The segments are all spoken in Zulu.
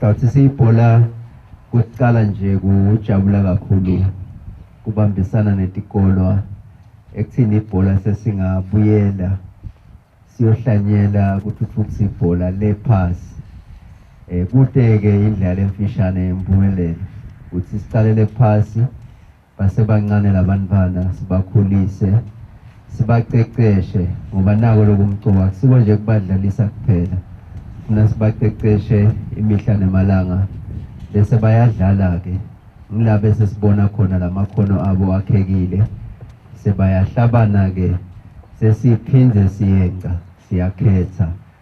Sawuthi siyibhola kuqala nje kujabula kakhulu kubambisana netikolwa ekuthini ibhola sesingabuyela siyohlanyela kuthuthukisa ibhola lephasi um eh, kude-ke indlala emfishane yempumelelo ukuthi siqalele phasi basebancane labantwana sibakhulise sibaqeqeshe ngoba nako lokumcuba akusiko nje kubadlalisa kuphela funa sibaqeqeshe imihla nemalanga bese bayadlala-ke ngila bese sibona khona la makhono abo akhekile sebayahlabana-ke sesiphinde siyenca siyakhetha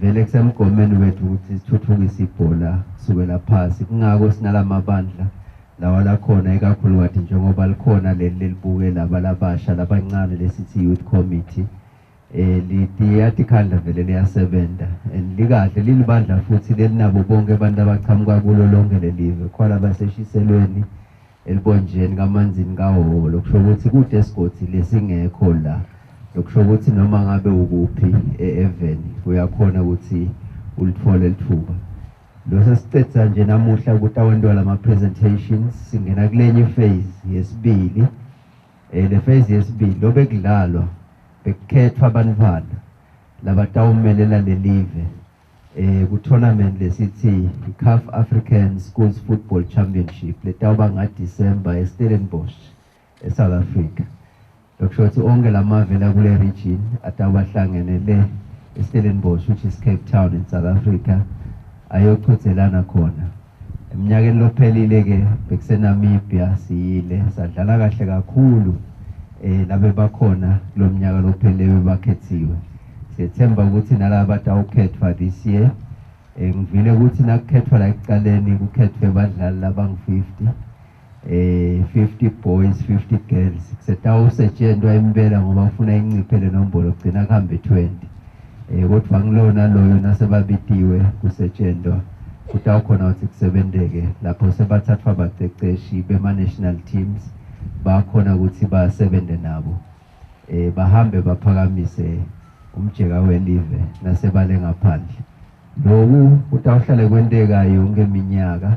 Vele kusemgomeni wethu ukuthi sithuthukise ibhola kusukela phasi kungako sinalamabandla lawa lakhona ikakhulukathi njengoba likhona leli lelibuke laba labasha labancane lesithi youth committee eh liyathi khandla vele liyasebenza and likahle lilibandla futhi lelinabo bonke abantu abaqhamuka kulo lonke lelive khona baseshiselweni elibonjeni kamanzini kaholo kusho ukuthi kude esigodi lesingekho la lokusho ukuthi noma ngabe ukuphi e-even uyakhona ukuthi ulithole lithuba lo sesiqedisa nje namuhla ukuthi awenziwa lama-presentations singena kulenye phase yesibili um le phase yesibili lo bekudlalwa bekukhethwa abantwana labatawumelela lelive eh ku-tournament lesithi i-caf african schools football championship letawuba ngadisemba estellenbosch esouth africa lokusho ukuthi onke la mave la kule region atawuba hlangene le estellenbosch which is cape town in south africa ayochothelana khona Eminyakeni lophelile-ke bekuseNamibia siyile sadlala kahle kakhulu um labe bakhona kulo mnyaka lophelile bebakhethiwe sethemba ukuthi nalaba batawukhethwa this year um ngivile ukuthi nakukhethwa la ekuqaleni kukhethwe badlali labangu-fifty eh 50 boys 50 girls setawusetshentwa impela ngoba ufuna inciphe le nombolo kugcina kuhambe 20 eh kodwa ngilona loyo nasebabitiwe kusetshentwa kutawukhona ukuthi kusebenteke lapho sebathathwa abaqeqeshi bema-national teams bakhona ukuthi basebenze nabo eh bahambe baphakamise umjeka welive nasebale ngaphandle loku kutawuhlale kwenteka yonke iminyaka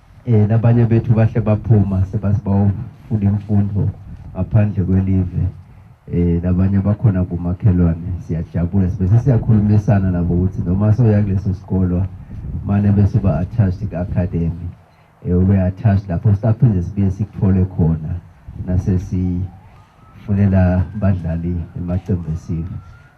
Eh labanye bethu bahle baphuma sebasibawufuna imfundo ngaphandle kwelive. Eh labanye bakhona kumakhelwane siyajabula sibe siyakhulumisana nabo ukuthi noma soya kuleso sikolo mane bese ba attached ka academy. Eh ube attached lapho siphinde sibe sikuthole khona nasesi funela badlali emaqembu esiwe.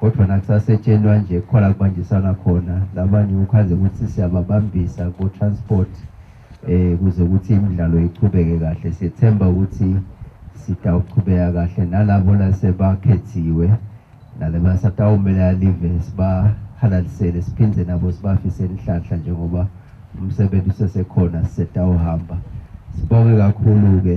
kodwa nakusasetshelwa nje kukhona kubanjisana khona labanye ukhaze ukuthi siyababambisa ko-transport um kuze ukuthi imidlalo iqhubeke kahle sethemba ukuthi sitawuqhubeka kahle nalabo lasebakhethiwe nalebasatawumela live sibahalalisele siphinde nabo sibafise inhlanhla njengoba umsebenzi usesekhona sisetawuhamba sibonge kakhulu-ke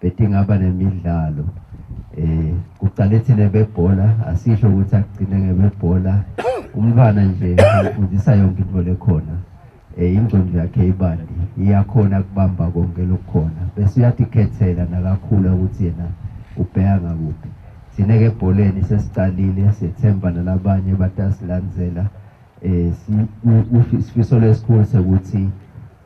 bethi ngaba nemidlalo eh kuqale thina bebhola asisho ukuthi akugcine ngebebhola umntwana nje ufundisa yonke into lekhona eh ingqondo yakhe ibandi iyakhona kubamba konke lokukhona bese uyathi khethela nakakhula ukuthi yena ubheka ngakuphi thina ke ebholeni sesiqalile sethemba nalabanye batasilandzela eh sifiso lesikhulu sekuthi